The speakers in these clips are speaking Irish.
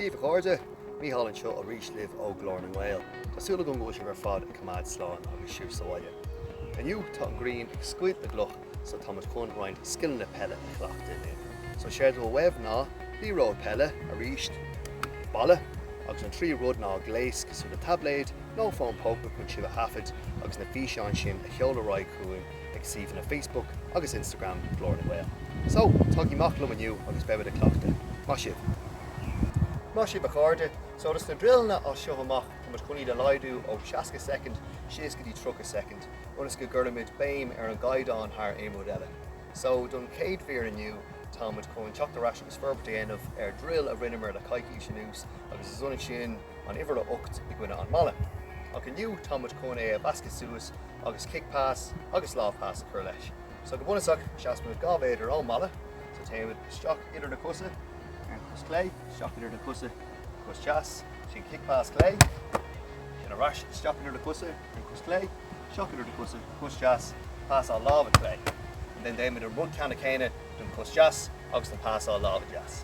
Daoibh a chairde, Micheál anseo arís libh ó Ghlór na nGael. Tá súil agam go bhfuil sibh ar fad ag coimeád slán agus sibh sa bhaile. Inniu tá an ghrian ag scoilt na gcloch so táimid chun roinnt scileanna peile a chleachtadh linn. So séard a bheidh uaibh ná liathróid peile, arís, balla agus an tríú rud ná gléas cosúil le taibléad nó fón póca chun sibh a thaifeadadh agus na físeáin sin a Sheoladh ar aghaidh chugainn ag suíomhanna Facebook agus Instagram Glór na nGael. So, tagaigí amach liom inniu agus beimid ag cleachtadh. Maith sibh! Maith sibh a chairde. So do sna druileanna as seo amach táimid chun iad a laghdú ó 60 soicind síos go dtí 30 soicind ionas go gcuirimid béim ar an gcaighdeán thar aon rud eile. So don chéad mhír inniu táimid chun teacht ar ais agus forbairt a dhéanamh ar druil a rinneamar le coicís anuas agus is ionann sin an uimhir a 8 i gcoinne an mballa. Ach inniu tá muid chun é a mheascadh suas agus kick pass agus lámh pass a chur leis. So go bunusach seasann muid dhá mhéadar ón mballa so téann muid isteach idir na cosa ar an chos chlé, isteach idir na cosa cos deas, ansin kick pass chlé, ansin ar ais isteach idir na cosa ar an chos chlé, isteach idir na cosa cos deas, pasáil láimhe chlé. And then déanann muid an rud ceannann céanna don chos deas agus an pasáil láimhe deas.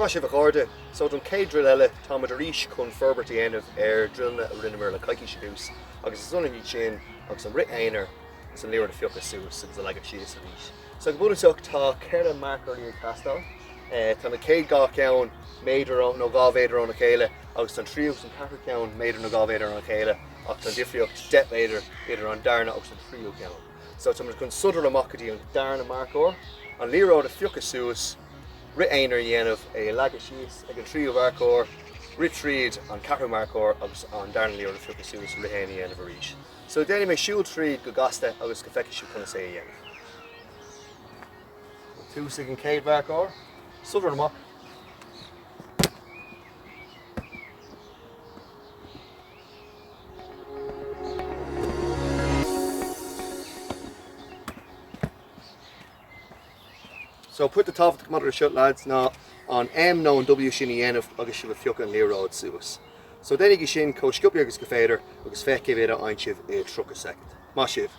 Maith sibh, a chairde! So, don chéad drill eile, táimid arís chun forbairt a dhéanamh ar drillanna a rinneamar le coicís anuas agus is ionann iad sin agus an rith aonair is an liathróid a phiocadh suas agus a leagadh síos arís. So, go bunúsach, tá ceithre marcóirí ag teastáil. Tá na chéad dhá cheann méadar nó dhá mhéadar óna chéile agus tá an tríú agus an ceathrú ceann méadar nó dhá mhéadar óna chéile ach tá an difríocht deich méadar idir an darna agus an tríú ceann. So, táimid chun sodar amach go dtí an darna marcóir, an liathróid a phiocadh suas, rith aonair a dhéanamh, é a leagadh síos ag an tríú marcóir, rith tríd an ceathrú marcóir agus an darna liathróid a phiocadh suas, rith aonair a dhéanamh arís. So déanfaidh mé siúl tríd go gasta ionas go bhfeicfidh sibh conas é a dhéanamh. Ag tosú ag an chéad mharcóir, sodar amach. So, pointe tábhachtach maidir leis seo, lads, ná an M nó an W sin a dhéanamh agus sibh ag piocadh an liathróid suas. So, déanaigí sin chomh sciopaí agus gur féidir agus féach cé mhéad a fhaigheann sibh i 30 soicind. Maith sibh!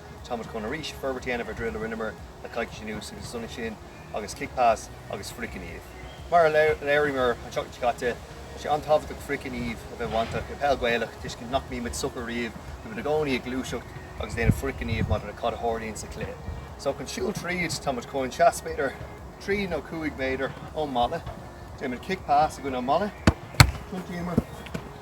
Tá muid chun arís forbairt a dhéanamh ar dhruil a rinneamar le coicís anuas agus is ionann sin agus kick pass agus frithghníomh. Mar a léiríomar an tseachtain seo caite, tá sé an-tábhachtach frithghníomh a bheith bainteach i bpeil Ghaelach, tuiscint nach mbímid socair riamh go mbímid i gcónaí ag gluaiseacht agus ag déanamh frithghnímh maidir le cad a tharlaíonn sa chluiche. So chun siúl tríd, tá muid chun seasamh b'fhéidir, trí nó cúig mhéadar ón mballa, déanaimid kick pass i gcoinne an mballa, tiontaíomar,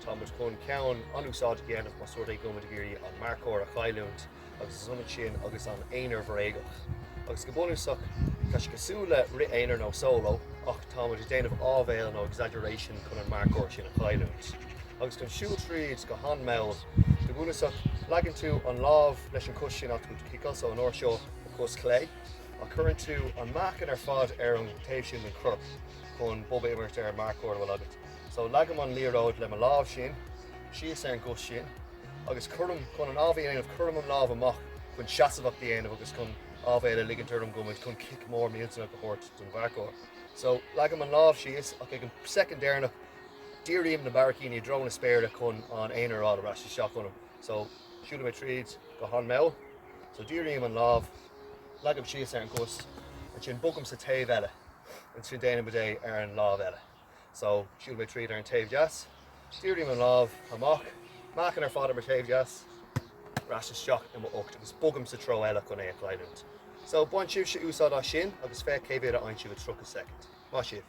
Tá muid chun ceann an-úsáideach a dhéanamh más rud é go bhfuilimid ag iarraidh an marcóir a chailliúint agus is ionann sin agus an t-aonar bréagach. Agus go bunúsach tá sé cosúil le rith aonair nó solo ach tá muid ag déanamh áibhéil nó exaggeration chun an marcóir sin a chailliúint. Agus chun siúl tríd go han mall, go bunúsach leagann tú an lámh leis an cos sin atá ag ciceáil so an uair seo an cos chlé ach cuireann tú an meáchan ar fad ar an taobh sin den chorp chun bob a imirt ar an marcóir a bhfuil agat. So, leagaim an liathróid le mo lámh sin, síos ar an gcos sin, agus cuirim, chun an áibhéil a dhéanamh, cuirim an lámh amach chun seasamhacht a dhéanamh agus chun áibhéil a ligint orm go bhfuil mé chun cic mór millteanach a thabhairt don mharcóir. So, leagaim an lámh síos, ach ag an soicind deireanach, dírím na barraicíní i dtreo na spéire chun an aonar a fháil ar ais isteach ionam. So, siúlfaidh mé tríd go han-mall. So, dírím an lámh, leagaim síos ar an gcos, ansin bogaim sa treo eile, ansin déanaimid é ar an lámh eile. So, siúlfaidh mé tríd ar an taobh deas, dírím an lámh amach, meáchan ar fad ar mo thaobh deas, ar ais isteach i mo ucht agus bogaim sa treo eile chun é a chailliúint. So, bain sibhse úsáid as sin agus féach cé mhéad a dhéanfaidh sibh i 30 soicind. Maith sibh!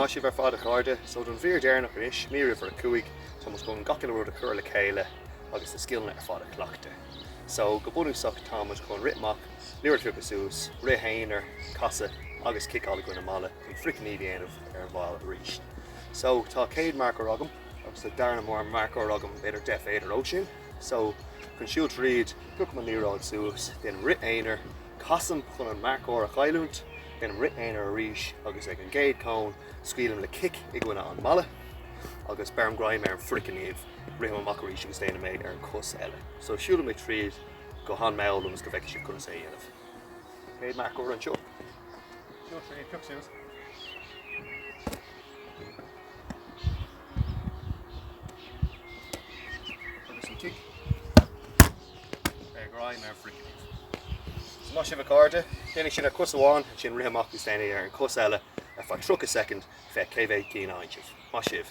Maith sibh ar fad a chairde, so don mhír deireanach anois, mír uimhir a cúig, tá muid chun gach uile rud a chur le chéile agus na scileanna ar fad a chleachtadh. So go bunúsach tá muid chun rith amach, liathróid a phiocadh suas, rith aonair, casadh agus ciceáil i gcoinne an mballa chun frithghníomh a dhéanamh ar an bhaill arís. So tá céad mharcóir agam. agus an darna marcóir agam b'fhéidir deich mhéadar ó sin so chun siúl tríd piocaim an liathróid suas, déanaim rith aonair, casaim chun an marcóir a chailliúint, déanaim rith aonair arís agus ag an gcéad cón scaoilim le cic i gcoinne an mballa agus beirim greim ar an fhrithghníomh, rithim amach arís agus déanaim é ar an cos eile so siúlfaidh mé tríd go han mall ionas go bhfeicfidh sibh conas é a dhéanamh. Céad mharcóir anseo, siúl tríd, pioc suas. Agus an tigh ar greim ar phroiceallaí. So maith sibh a chairde. Déanaigí sin ar chos amháin, ansin rith amach agus déanaigí ar an chos eile ar feadh 30 soicind, féach cé mhéad cinn a dhéanfaidh sibh. Maith sibh.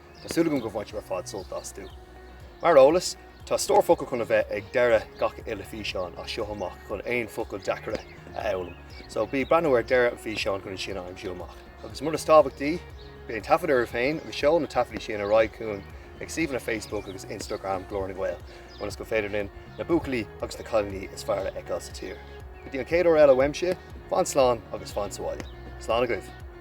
Tá súil agam go mbaineann sibh ar fad sult astu. Mar eolas, tá stór focal chun a bheith ag deireadh gach uile físeán as seo amach chun aon focail deacaire a fhoghlaim. So bí ag breathnú ar deireadh an fhíseáin chun iad sin a aimsiú amach. Agus mar is tábhachtaí, bí ag taifead oraibh féin agus seol na taifeadaí sin ar aghaidh chugainn ag suíomhanna Facebook agus Instagram Glór na nGael ionas gur féidir linn na buachaillí agus na cailíní is fearr a fheiceáil sa tír. Go dtí an chéad uair eile uaimse, fan slán agus fan sabháile. Slán agaibh!